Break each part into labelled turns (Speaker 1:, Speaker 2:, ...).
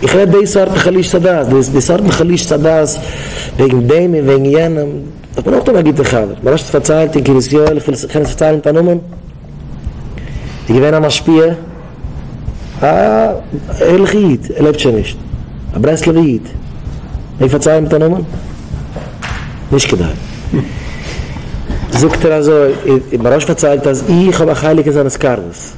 Speaker 1: איך רעד די סארט חלישת הדעת, די סארט מיט חלישת הדעת וועגן דעם און וועגן יענעם, איך בין אויך דאן א גוטער חבר, מ'האט שוין פארציילט אין קרית יואל, איך וויל עס פארציילן מיט א נאמען, איז געווען א משפיע, א ערליכע איד, ער לעבט שוין נישט, א ברסלב'ע איד, מעג פארציילן מיט א נאמען? נישט כדאי. זאגט ער אזוי, מ'האט שוין פארציילט אז איך האב א חלק אין זיינע סקארבעס.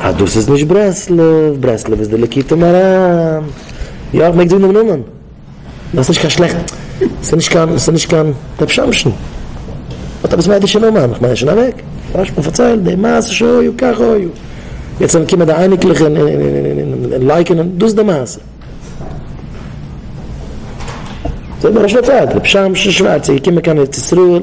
Speaker 1: אז דאס איז נישט ברסלב, ברסלב איז די ליקוטי מוהרן, יא מען מעג זאגן דעם נאמען, דאס איז נישט קיין שלעכט, עס איז נישט קיין רב שמשון, האט עפעס א אידישע נאמען, איך מיין שוין אוועק, רשב א פארציילט די מעשה שהיה כך היה, יעצט וועלן קומען די אייניקלעך און לייקענען, דאס איז די מעשה. זאג מיר ר' שמעון פארציילט ר' שמשון שווארץ איז געקומען קיין ארץ ישראל,